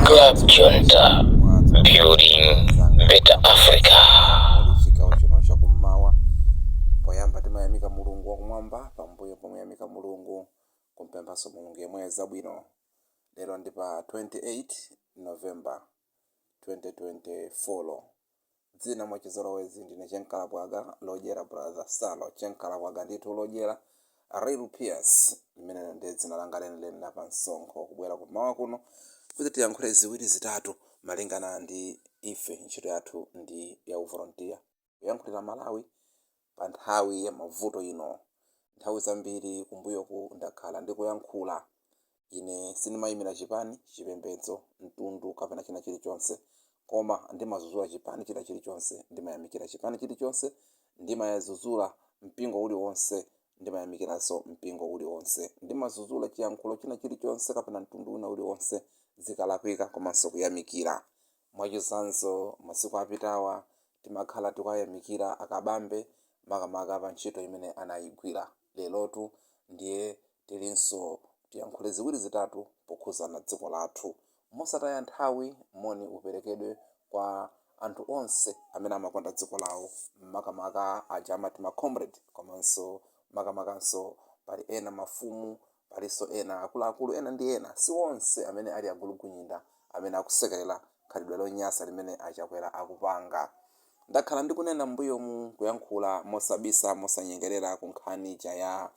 Club Junta, building better Africa. Chigawo chino chakummawa poyamba timayamika mulungu wakumwamba pambuyo pomuyamika mulungu kumpemphanso mulungu yemweyo zabwino lero ndi pa 28 november 2024 dzina mwachizolowezi ndine chenkalabwaga lodyera brother salo chenkalabwaga ndithu lodyera real ps limene ndi dzina langa lenileni la pa msonkho kubwera kummawa kuno kuti tiyankhule ziwiri zitatu malingana ndi ife ntchito yathu ndi ya uvolontiya kuyankhulira malawi pa nthawi ya mavuto ino. Nthawi zambiri kumbuyoku ndakhala ndikuyankhula. Ine sindimayimira chipani, chipembedzo, mtundu kapena china chilichonse. Koma ndimadzudzula chipani china chilichonse, ndimayamikira chipani chilichonse, ndimadzudzula mpingo uliwonse, ndimayamikiranso mpingo uliwonse. Ndimadzudzula chiyankhulo china chilichonse kapena mtundu wina uliwonse zikalakwika komanso kuyamikira. Mwachitsanzo, masiku apitawa timakhala tikuwayamikira a Kabambe makamaka pa ntchito imene anayigwira. Lerotu ndiye tilinso tiyankhule ziwiri zitatu pokhuzana dziko lathu. Mosataya nthawi moni uperekedwe kwa anthu onse amene amakonda dziko lawo makamaka aja amati ma comrade komanso makamakanso pali ena mafumu Palinso ena, akuluakulu ena ndi ena, si onse amene ali agulugunyinda, amene akusekelera khalidwe lonyasa limene a Chakwera akupanga. Ndakhala ndikunena m'mbuyomu kuyankhula mosabisa, mosanyengelera ku nkhani ija ya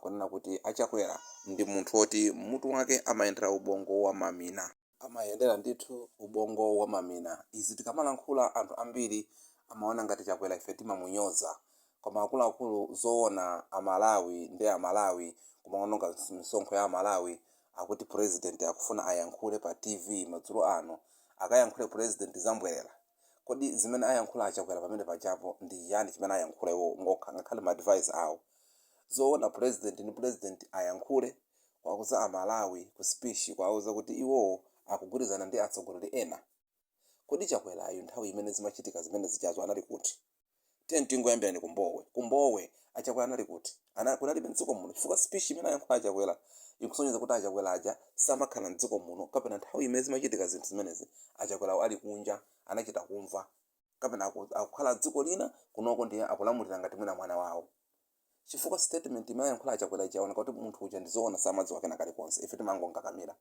kunena kuti a Chakwera ndi munthu woti mutu wake amayendera ubongo wa mamina. amayendera ndithu ubongo wa mamina. Izi tikamalankhula anthu ambiri amaona ngati Chakwera ife timamunyoza. Koma akuluakulu zoona a Malawi ndi a Malawi kumaononga misonkho ya a Malawi akuti president akufuna ayankhule pa TV madzulo ano. Akayankhule president zambwerera? Kodi zimene ayankhula a Chakwera pamene pajapo ndi chiyani chimene ayankhula iwo okha ngakhale ma adviser awo? Zoona president ndi president ayankhule? Kuwauza a Malawi ku speech kuwauza kuti iwowo akugwirizana ndi atsogoleri ena? Kodi Chakwerawo nthawi imene zimachitika zimene zijazo anali kuti? Tiyeni tingoyambirani ku Mbowe. Ku Mbowe a Chakwera anali kuti? Ana, kunalibe mdziko muno chifukwa speech imene ayankhula a Chakwera ikusonyeza kuti a Chakwera aja samakhala mdziko muno kapena nthawi imene zimachitika zinthu zimenezi a Chakwerawo ali kunja anachita kumva kapena aku, akukhala dziko lina kunoko ndiye akulamulira ngati mwina mwana wawo. chifukwa statement imene ayankhula achakwera ija yaoneka kuti munthu uja ndizoona samadziwa kena kalikonse ife timangonkakamira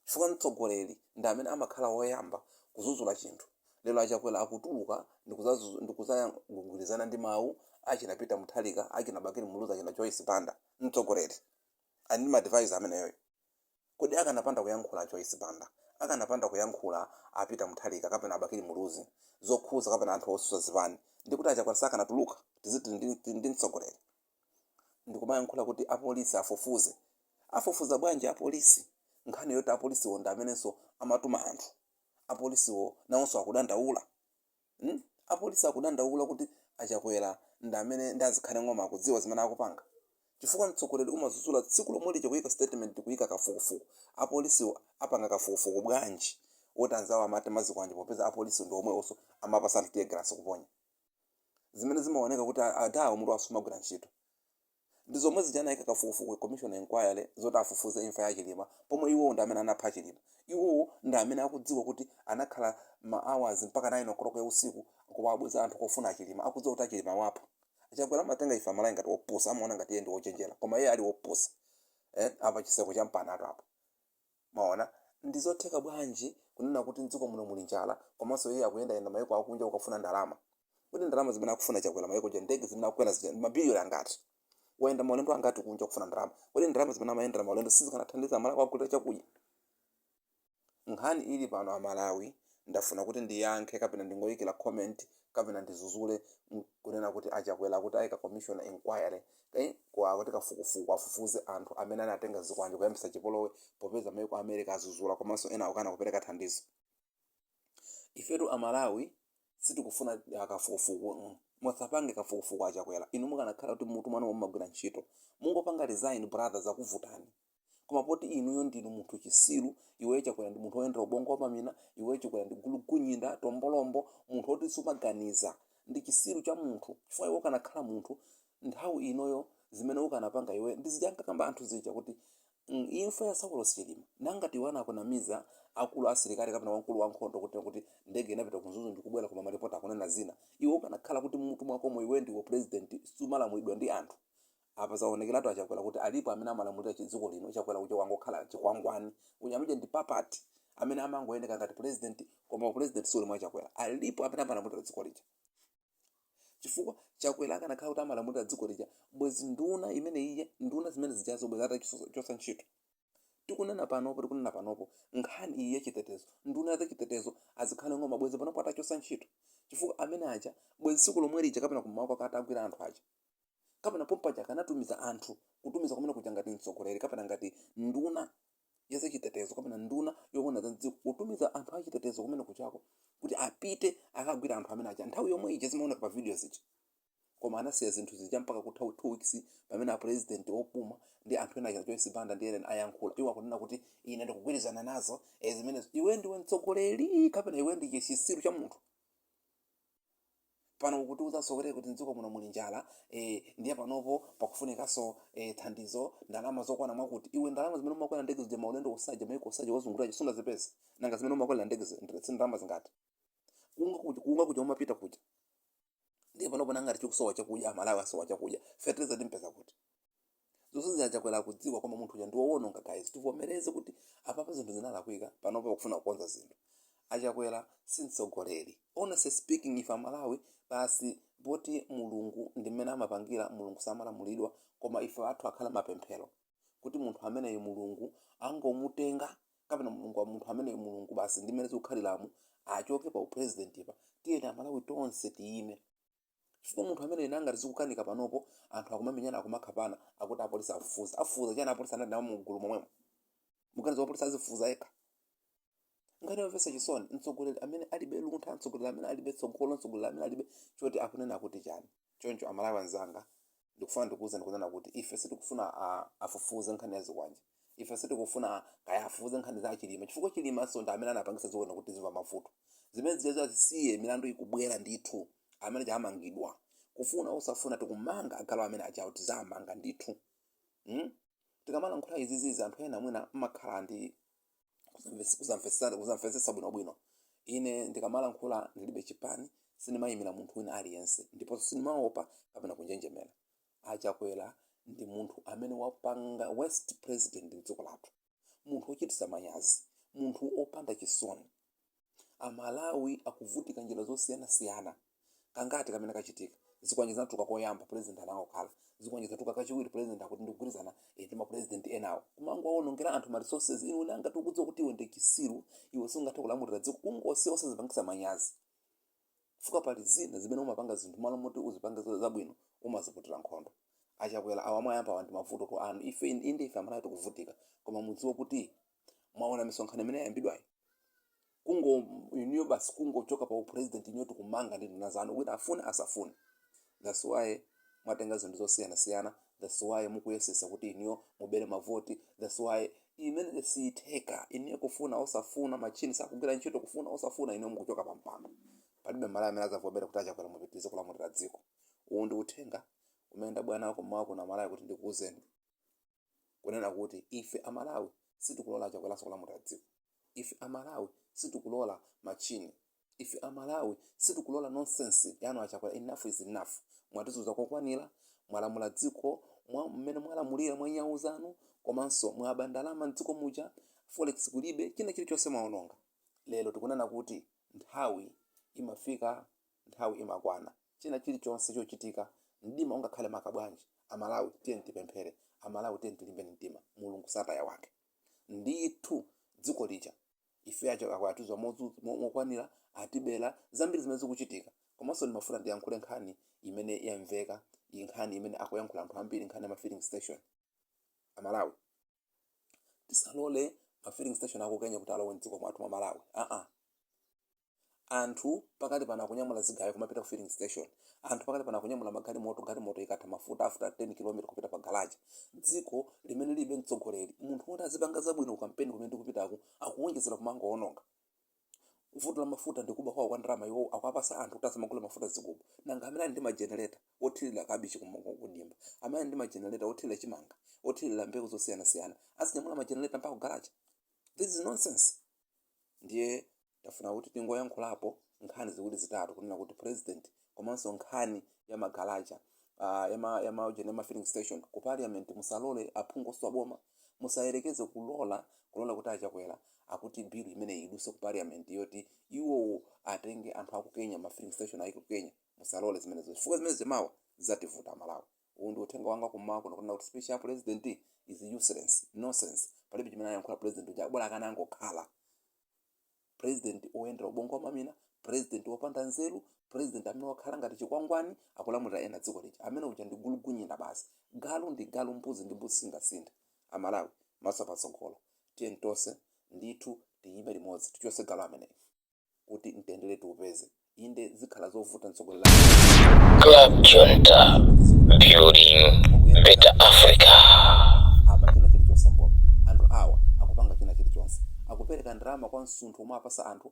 chifukwa mtsogoleri ndi amene amakhala woyamba kuzuzula chinthu lero achakwera akutuluka ndikuzazu- ndikuzagwirizana ndi mawu achina peter mutharika achina bakili muluzi achina joyce banda mtsogoleri ali ndi maadvisor ameneyoyo Kodi akanapanda kuyankhula a Joyce Banda, akanapanda kuyankhula a Peter Mutharika kapena a Bakili Muluzi zokhuza kapena anthu osusa zipani ndikuti a Chakwera sakanatuluka? Tiziti ndi mtsogoleri? Ndikumayankhula kuti a polisi afufuze. Afufuza bwanji a polisi nkhani yoti a polisiwo ndi amenenso amatuma anthu? A polisiwo nawonso akudandaula? Hmm? Apolisi akudandaula kuti a Chakwera ndi amene ndi azikhale ng'oma akudziwa zimene akupanga? Chifukwa mtsogoleri umadzudzula tsiku lomwe lija kuyika statement kuyika kafukufuku. Apolisiwo apanga kafukufuku bwanji woti anzawo amatenga zikwanje popeza apolisiwo ndi omwewonso amapatsa anthu teargas kuponya. Zimene zimaoneka kuti adawa mutu wawo sumagwira ntchito. Ndi zomwe zija anayika kafukufuku, commission enquiry, zoti afufuze imfa ya Chilima pomwe iwowo ndi amene anapha Chilima. Iwowo ndi amene akudziwa kuti anakhala ma hours mpaka 9 o'clock ya usiku kuwabweza anthu kofuna a Chilima akudziwa kuti a Chilima awapha. A Chakwera amatenga ife Amalawi ngati opusa, amaona ngati iye ndi wochenjera koma iye ali wopusa. Eh, apa chiseko champanatu apa. Mwaona, ndi zotheka bwanji kunena kuti m'dziko muno muli njala komanso iye akuyendayenda mayiko akunja kukafuna ndalama? Kodi ndalama zimene akufuna Chakwera mayiko kunja, ndege zimene akukwera zija ndi mabiliyoni angati? Wayenda maulendo angati kunja kufuna ndalama? Kodi ndalama zimene amayendera maulendo sizikanathandiza Amalawi kuwagulira chakudya? Nkhani ili pano Amalawi, ndafuna kuti ndiyankhe kapena ndingoyikira comment kapena ndizuzule kunena kuti a Chakwera akuti ayika commission inquiry, Eeh ko akuti kafukufuku afufuze anthu amene anatenga zikwanje kuyambisa chipolowe popeza maiko a America azuzula komanso ena akukana kupeleka thandizo. Ifetu a Malawi sitikufuna kafukufuku mm musapange kafukufuku a Chakwera inu mukanakhala kuti m'mutu mwanumo mumagwira ntchito mungopanga resign brother zakuvutani. koma poti inuyo ndinu munthu chisiru iweyo chakwera ndi munthu woyendera ubongo wa mamina iweyo chakwera ndi gulugunyinda tombolombo munthu woti sumaganiza ndi chisiru cha munthu chifukwa iwe ukanakhala munthu nthawi inoyo zimene ukanapanga iwe ndi zija ankakamba anthu zija kuti mm, imfa ya saulos chilima nangati iwe anakunamiza akulu asilikali kapena wamkulu wankhondo kuti kuti ndege inapita ku Mzuzu ndikubwera koma maripoti akunena zina iwe ukanakhala kuti m'mutu mwakomo iwe ndiwe president sumalamulidwa ndi anthu Apa zaonekelatu a Chakwera kuti alipo amene amalamulira chidziko lino, Chakwera uja wangokhala chikwangwani, uyu amene uja ndi puppet amene amangooneka ngati president koma u president suli mwa Chakwera, alipo amene amalamulira dziko lija chifukwa Chakwera akanakhala kuti amalamulira dziko lija bwezi nduna imene ija, nduna zimene zijazo bwezi atachosa ntchito. Tikunena panopo, tikunena panopo nkhani iyi ya chitetezo, nduna ya za chitetezo a Zikhale Ng'oma bwezi panopo atachosa ntchito chifukwa amene aja bwezi tsiku lomwe lija kapena kummawa kwake atagwira anthu aja, kapena pompaja akanatumiza anthu kutumiza kumene kuja ngati mtsogoleri kapena ngati nduna ya zachitetezo kapena nduna yoona za mdziko kutumiza anthu achitetezo kumene kuchako kuti apite akagwire anthu amene aja nthawi yomwe ija zimaoneka pa video zija koma anasiya zinthu zija mpaka kutha 2 weeks pamene apresident opuma ndi anthu ena aja joyce banda ndi ena ayankhula iwo akunena kuti ine ndikugwirizana nazo eh, zimenezo iwe ndiwe mtsogoleri kapena iwe ndi chisiru cha munthu pano ukutiuzanso kti kti mdziko muno muli njala ee ndiye panopo pakufunikanso ee thandizo ndalama zokwana mwakuti, iwe ndalama zimene umakwerera ndege zija maulendo onse aja maiko onse aja wazungulira aja sunazipeze? nanga zimene umakwerera ndege zija ndi ndalama zingati? kunka kuja kunka kuja umapita kuja ndiye panopo nanga ngati chikusowa chakudya amalawi asowa chakudya fertilizer timupeza kuti? zonsezi achakwera akudziwa koma munthu uja ndiwowononga guys tivomereze kuti apapa zinthu zinalakwika panopa akufuna kukonza zinthu achakwera si mtsogoleri honestly speaking ife amalawi basi poti mulungu ndi mmene amapangira mulungu samalamulidwa koma ife athu akhale mapemphero kuti munthu ameneyo mulungu angomutenga kapena munthu ameneyo mulungu basi ndi mmene zikukhaliramo achoke pa uprezidentipa tiyeni amalawi tonse tiyime chifukwa munthu ameneyu nanga zikukanika panopo anthu akumamenyana akumakhapana akuti apolisi afufuza afufuza chani apolisi anali nawo mgulu momwemo mukuganiza wapolisi azifufuza yekha nkhani yomvetsa chisoni mtsogoleri amene alibe luntha mtsogoleri amene alibe tsogolo mtsogoleri amene alibe choti akunena akuti chani choncho amalawi anzanga ndikufuna ndikuwuzeni kunena kuti ife sitikufuna a- afufuze nkhani ya zikwanje ife sitikufuna kaya afufuze nkhani za achilima chifukwa chilimanso ndi amene anapangisa tiziwona kuti tizimva mavuto zimene zijazo azisiye milandu ikubwera ndithu amene aja amangidwa kufuna usafuna tikumanga agalu amene ajawo tizamanga ndithu mm? tikamalankhula izizizi anthu ena mwina mmakhala ndi kuzamves- kuzamvesa- kuzamvetsetsa bwinobwino ine ndikamalankhula ndilibe chipani sindimayimira munthu wina aliyense ndiponso sindimaopa kapena kunjenjemera achakwera ndi munthu amene wapanga worst president mdziko lathu munthu wochititsa manyazi munthu opanda chisoni amalawi akuvutika njira zosiyanasiyana kangati kamene kachitika zikwanje zinatuluka koyamba president anangokhala zikwanje zinatuluka kachiwiri president akuti ndikugwirizana eh, ndi mapresident enawo kumangowaonongera anthu ma resources iwe nanga tikudziwa kuti iwe ndi chisiru iwe sungathe kulamulira dziko kungosiya osazipangisa manyazi fuka pali zina zimene umapanga zinthu malo moti uzipange zo- zabwino umaziputira nkhondo achakwera awa mwayamba awa ndi mavutotu anu ife inde ife amalawi tikuvutika koma mudziwe kuti mwaona misonkhano imene yayambidwayi kungo inuyo basi kungochoka pa upresident inuyo tikumangani ndi nduna zanu wina afune asafune that's why mwatenga zinthu zosiyanasiyana that's why mukuyesesa kuti inuyo mubere mavoti that's why zimene sizitheka inuyo kufuna osafuna machini sakugwira ntchito kufuna osafuna inuyo mukuchoka pa mpando palibe mmalawi amene azavomera kuti achakwera mupitirize kulamulira dziko uwu ndi uthenga umene ndabwera nawo kummawa kuno amalawi kuti ndikuuzeni kunena kuti ife a Malawi sitikulola a Chakweranso kulamulira dziko, ife a Malawi sitikulola machini, ife a Malawi sitikulola nonsense yanu a Chakwera enough is enough, mwatizuza kokwanira, mwalamula dziko mwa mmene mwalamulira mwa nyau zanu komanso mwaba ndalama mdziko muja, forex kulibe, china chilichonse mwaononga. Lero tikunena kuti nthawi imafika Nthawi imakwana. China chili chonse chochitika, mdima ungakhale maka bwanji, a Malawi tiyeni tipemphere, a Malawi tiyeni tilimbe mtima, Mulungu sataya wake. Ndithu dziko lija ife aja atizuza mokwanira, atibera, zambiri zimene zikuchitika. Komanso ndimafuna ndiyankhule nkhani imene yamveka, nkhani imene akuyankhula anthu ambiri, nkhani ya ma filling station. A Malawi tisalole ma filling station aku Kenya kuti alowe m'dziko mwathu mwa Malawi, aa. anthu pakali pano akunyamula zigayo kumapita ku filling station anthu pakali pano akunyamula magalimoto galimoto ikatha mafuta after 10 km kupita pa garaji dziko limene lilibe mtsogoleri munthu woti azipanga zabwino ku kampeni kumene tikupitako akuwonjezera kumangowononga vuto la mafuta ndi kuba kwawo kwa ndalama iwo akuwatsa anthu kuti asamagula mafuta mzigubu nanga amene ali ndi majenereta othirira kabichi kudimba amene ali ndi majenereta othirira chimanga othirira mbewu zosiyanasiyana azinyamula majenereta mpaka ku garaji this is nonsense ndiye tafuna kuti tingoyankhulapo nkhani ziwiri zitatu kunena kuti president komanso nkhani ya magalaja uh, yama yama ujeni yama filling station ku parliament musalole aphungu otsutsa boma musayerekeze kulola kulola kuti achakwera akuti bill imeneyi iduse ku parliament yoti iwowo atenge anthu aku kenya ma filling station ayike ku kenya musalole zimenezo chifukwa zimenezo mawa zativuta amalawi Uwu ndi uthenga wanga kummawa kuno kunena kuti speech ya president is useless, nonsense, palibe chimene anayankhula president uja bola akanangokhala president oyenderera ubongo wa mamina, president opanda nzeru, president amene wakhala ngati chikwangwani akulamulira ena dziko lija. Amene uja ndi gulugunyina basi. Galu ndi galu, mbuzi ndi mbuzi singasinthe. A Malawi, maso patsogolo. Tiyeni tonse ndithu tiyime limodzi tichotse galu ameneyu. kuti mtendere tiupeze inde zikhala zovuta mtsogoleri amene Klabu Junta, building better Africa. apa china chilichonse mboma anthu awa akupanga china chilichonse akupereka ndalama kwa msunthu omwe apasa anthu